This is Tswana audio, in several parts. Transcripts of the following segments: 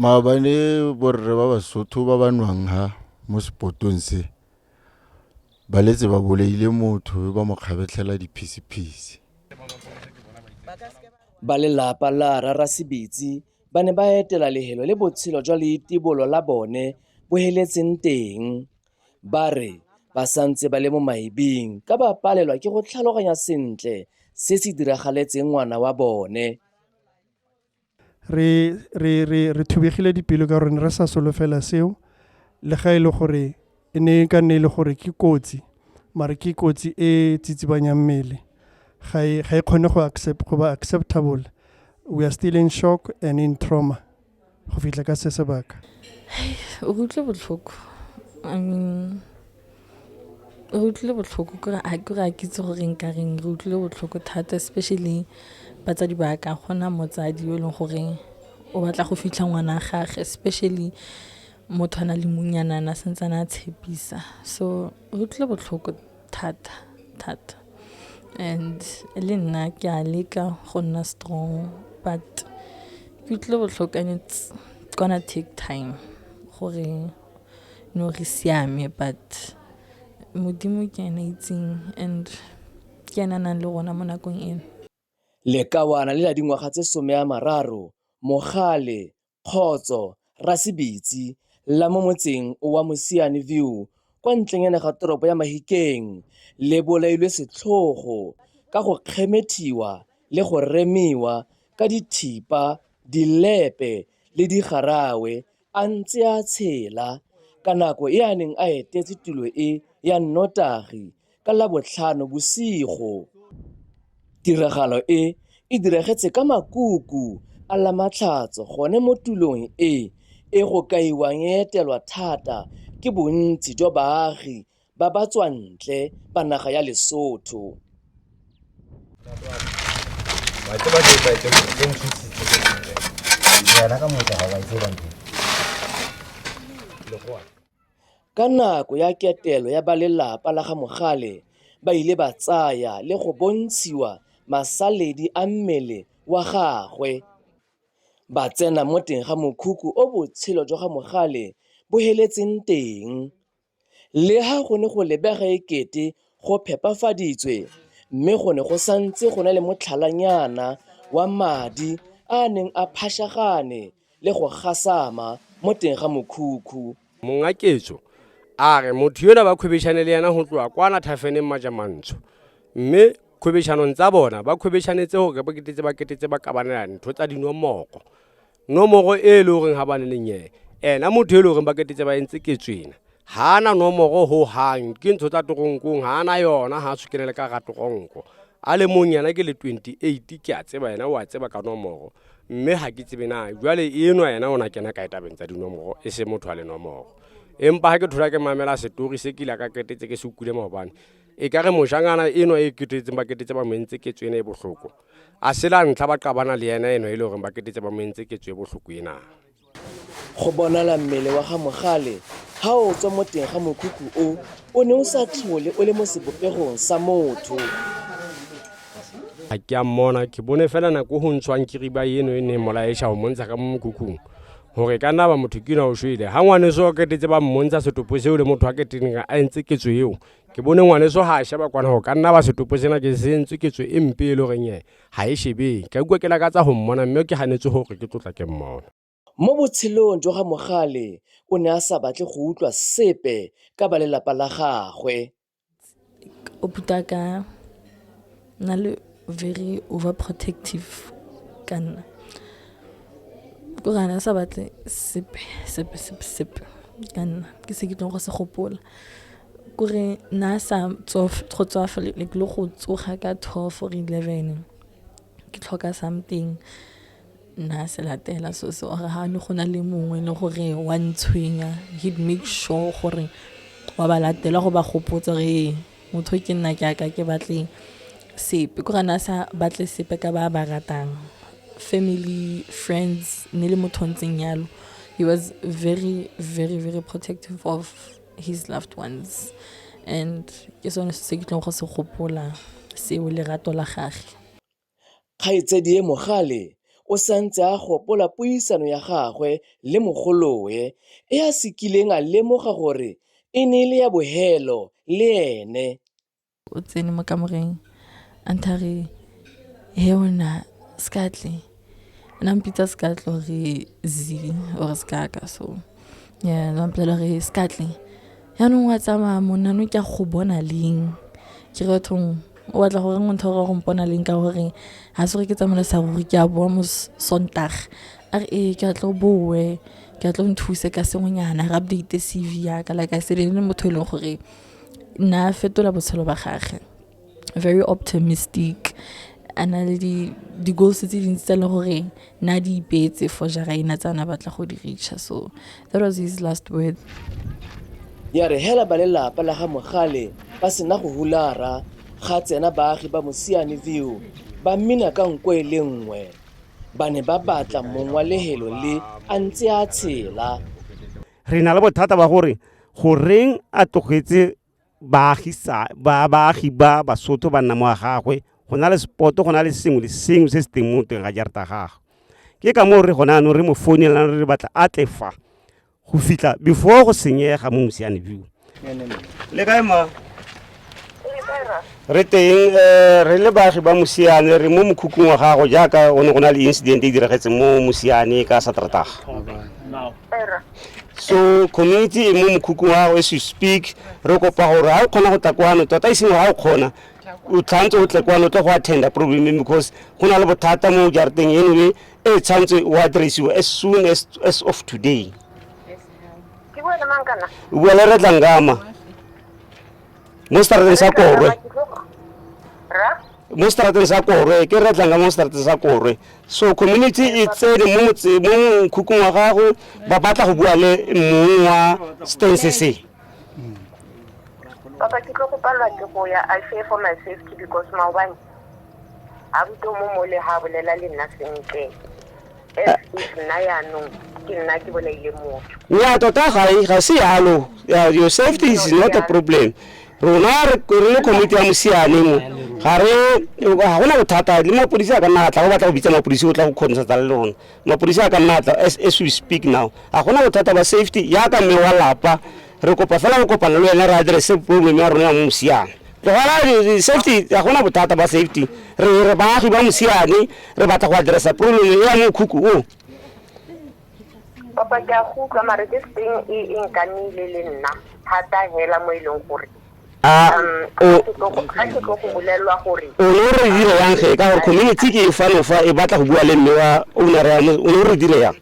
Maabane borre ba Basotho ba ba nwang ha mo sepotong se, ba letse ba bolaile motho mme ba mo kgabetlhela diphisiphisi. Ba lelapa la Rara Sebetsi ba ne ba etela lehelo le botshelo jwa leitibolo la bone bo heletseng teng. Ba re ba santse ba le mo maebing ka ba palelwa ke go tlhaloganya sentle se se diragaletseng ngwana wa bone. re re re re thubegile dipelo ka gore ne re sa solofela seo le ga e le gore e ne e ka nne e le gore ke kotsi mare ke kotsi e tsitsibanyang mmele ga e ga e kgone go accept go ba acceptable we are still in shock and in trauma go fitlha ka se sebaka o utlwe botlhoko i mean re utlwile botlhoko kore a ke re a kitse gore nka reng re utlwile botlhoko thata especially batsadi ba ka gona motsadi yo e leng goreng o batla go fitlha ngwana gage especially motho a na le munyanana sentse a tshepisa so re utlwile botlhoko thata thata and le nna ke a leka go nna strong but ke utlwile botlhoko and it's gonna take time gore no re siame but modimo ke ena itseng and ke ena nang le rona mo nakong eno Lekawana le la dingwaga tse some a mararo, Mogale, Kgotso, Rasebitsi, la mo motseng wa Mosiane View kwa ntlenyana ga toropo ya Mahikeng le bolailwe setlhogo ka go kgemethiwa le go remiwa ka dithipa, dilepe le digarawe a ntse a tshela ka nako e a neng a etetse tulo e ya nnotagi ka labotlhano bosigo. Tiragalo e e diragetse ka makuku a lamatlhatso gone mo tulong e e go kaiwang e etelwa thata ke bontsi jwa baagi ba ba tswantle ba naga ya Lesotho. Ka nako ya ketelo ya ba lelapa la ga Mogale ba ile ba tsaya le go bontshiwa masaledi a mmele wa gagwe. Ba tsena mo teng ga mokhukhu o botshelo jwa ga Mogale bo heletseng teng. Leha go ne go lebega e kete go phepafaditswe mme go ne go santse go na le motlhalanyana wa madi a a neng a phashagane le go gasama mo teng ga mokhukhu. Monga ketso a re motho yola ba khwebeshane le yena go tloga kwana thafeneng Majamantsho mme khwebeshanong tsa bona ba khwebeshanetse gore ba ketetse ba ketetse ba kabanela ntho tsa dinwamoko nomoro e le goreng ga ba ne le nyee ena motho e le goreng ba ketetse ba entse ke tswena ga ana nomoro go gang ke ntsho tsa toronkong ga ana yona ga a tshwekenele ka ga toronko a le mong yena ke le 28 ke a tseba yena o a tseba ka nomoro mme ga ke tsebe na jale enwa yena o na kena ka etabeng tsa dinomoro e se motho a le nomoro empa ga ke thola ke mamela setori se kile ka ketetse ke se ukile maobane e ka re mojangana enwa e ketetseng ba ketetse ba mentse ke tswene e botlhoko A se la ntlha ba qabana le ena eno e le gore ba ketetse ba mo entse ketso e botlhoko ena. Go bonala mmele wa ga Mogale ga o tswa mo teng ga mokhukhu o o ne o sa tlhole o le mo sebopegong sa motho. A ke a mmona ke bone fela nako go ntshwang kiriba eno e neng molaesha o montsha ka mo mokhukhung gore ka nna ba motho ke na o shwele ga ngwaneso o ketetse ba mmontsha setopo seo le motho a keteneng a entse ketso eo ke bone ngwaneso ga a sheba kwana go ka nna ba setopo sena ke sentswe ketso e mpe e le goreng e ga e shebeng ka kua ke lakatsa go mmona mme ke ganetse gore ke tlotla ke mmona mo botshelong jwa ga mogale o ne a sa batle go utlwa sepe ka ba lelapa la gagwe o puta ka na le very over protective ka nna ko gana sa batle sepe sepe sepe sepe ka nna ke se ke tlong go se gopola kore na sa go tswafa le go tsoga ka twelve or eleven ke tlhoka something nna se latela so se ore ga ne go na le mongwe le gore wa ntshwenya he'd make sure gore wa ba latela go ba gopotsa gore ee motho ke nna ke aka ke batle sepe ko gana sa batle sepe ka ba ba ratang family friends ne le motho ntseng yalo he was very very very protective of his loved ones and ke sone se ke tlong go se gopola seo lerato la gage Kgaitsedie Mogale o santse a gopola puisano ya gagwe le mogolowe e a se kileng a lemoga gore e ne e le ya bohelo le ene. O tsene mo kamoreng a ntha re he ona Skatle, na mpitsa Skatle gore zi or sekaka so. ya la mpolelela re se ka tle yaanong wa tsamaya monna no ke a go bona leng ke re bathong o batla gore ngwe ntho gore go mpona leng ka gore ga se gore ke tsamaela sa ruri ke a boa mo sontage a re ee ke a tlo boe ke a tlo nthuse ka sengwenyana re update C_V yaka like I said e ne motho e leng gore nna fetola botshelo ba gage very optimistic a na le di-goals tse dintsi tsa le gore na di ipeetse for jara ena tsa na batla go di reacha so that was his last word ya re hela ba lelapa la ga mogale ba sena go hulara ga tsena baagi ba mosiane view ba mmina ka nko e le nngwe ba ne ba batla mong wa lehelo le a ntse a tshela re na le bothata ba gore goreng a tlogetse baagi ba Basotho ba nna mo a gagwe, go na le spot-o, go na le sengwe le sengwe se se teng mo teng ga jarata ya gagwe. Ke ka moo re gone jaanong re mo founela re batla a tle fa, go fitlha before go senyega mo Mosiane View. Le kae ma? Re teng eh, re le baagi ba Mosiane, re mo mokhukhung wa gago jaaka o ne go na le incident e diragetseng mo Mosiane ka Sateretaga. so community e mo mokhukhung wa gago as you speak re kopa gore ga o kgona go tla kwano tota e seng gore ga o kgona o tshwanetse o tle kwano o tle go attenda programming because go na le bothata mo jarateng anyway e tshwanetse o addressiwe as soon as, as of today ke bua le mang kana o bua le re tlangama mo seterateng sa korwe ra mo strateng sa korwe ke re tlanga mo strateng sa korwe so community e tsene mo motse mo mokhukhung wa gago ba batla go bua le mong wa stance se papa ke tlo go palwa ke go ya i fear for my safety because maobane a buto mo mole ha bolela le nna sentle ya tota ga e, ga se yalo your safety is not a problem rona re le committee ya mosiane mo ga re ga gona bothata le mapodisi a ka nna atla go batla go bitsa mapodisi o tla go kgontsatsa le rona mapodisi a ka nna atla as we speak now ga gona bothata ba safety yaka mme wa lapa Re kopa fela go kopana le wena re address problem ya rona ya mo Mosiane. Tlogela di- di- safety ga gona bothata ba safety. Re re baagi ba Mosiane re batla go addressa problem e ya mo Khuku o. papa ke a go utlwa mare this thing e e nkamile le nna thata hela mo e leng gore A um, o ga ke tlo go- ga ke tlo go bolelelwa gore o ne o re dire yang ge ka gore community ke e fano fa e batla go bua le mme wa owner ya mo- o ne o re dire yang.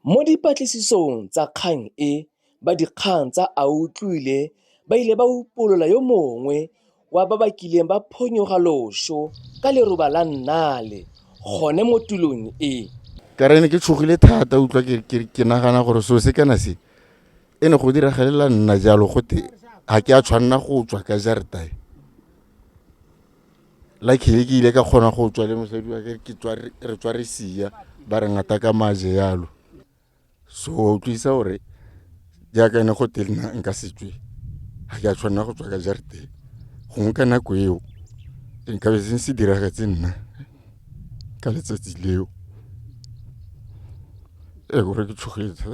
Mo dipatlisisong tsa kgang e, ba dikgang tsa Autlwile ba ile ba upolola yo mongwe wa ba ba kileng ba phonyoga loso ka leroba la Nnale gone mo tulong e. Ka re ne ke tshogile thata utlwa ke nagana gore seo se kana se e ne go diragalela nna jalo gote ga ke a tshwanela go tswa ka jaretae. Luckily ke ile ka kgona go tswa le mosadi wa ke re tswa re sia ba re ngata ka maje yalo so wa utlwisa gore jaaka ne go te nna nka setswe ga ke a tshwanela go tswa ka jareteng gongwe ka nako eo nkabe se se diragetse nna ka letsatsi leo e gore ke tshogetse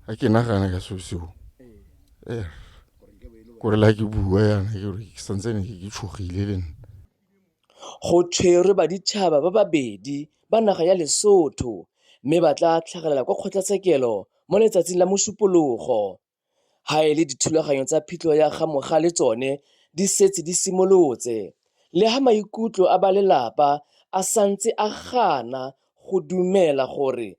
ga ke nagana ka seo seo . kore le ga ke bua yana ke gore ke santsene ke ke tshogile le nna go tshwerwe baditšhaba ba babedi ba naga ya Lesotho mme ba tla tlhagelela kwa kgotlatshekelo mo letsatsing la Mosupologo ga e le dithulaganyo tsa phitlho ya ga Mogale tsone di setse di simolotse le ga maikutlo a ba lelapa a santse a gana go dumela gore